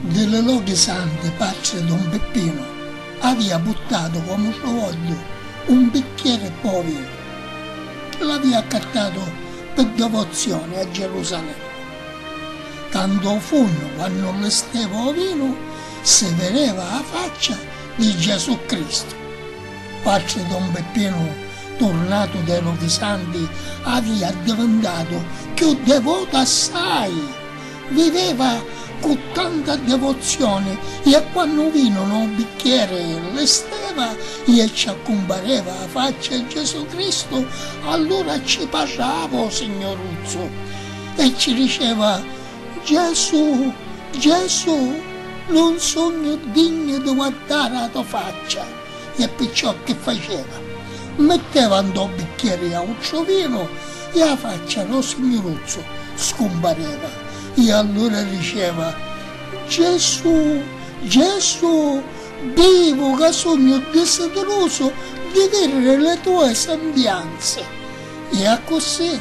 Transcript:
Di li lochi santi patri don Pippinu avia puttatu comu trovogghiu un bicchieri pò vinu chi l'avia accattatu pi devozioni a Gerusalemi. Tantu o funnu quannu li steva o vinu si videva a faccia di Gesù Cristu. Quatri Don Peppinu, turnatu de lu Visanti, avi addivintatu cchiù devotu assai. Viveva cu tanta devozioni ie quannu vinu nu bicchieri li steva ie ci accumpareva a faccia e Gesù Cristu, allura ci parrava u Signuruzzu e ci diceva, Gesù, Gesù, nun sugnu dignu di guardari a to faccia. e picciò chi faceva? Mitteva ntô bicchieri autru vinu e â faccia dô signuruzzu scumpareva e allura diceva, Gesù, Gesù, bivu ca sugnu disidirusu di vidiri li tue sembianzi! E accussì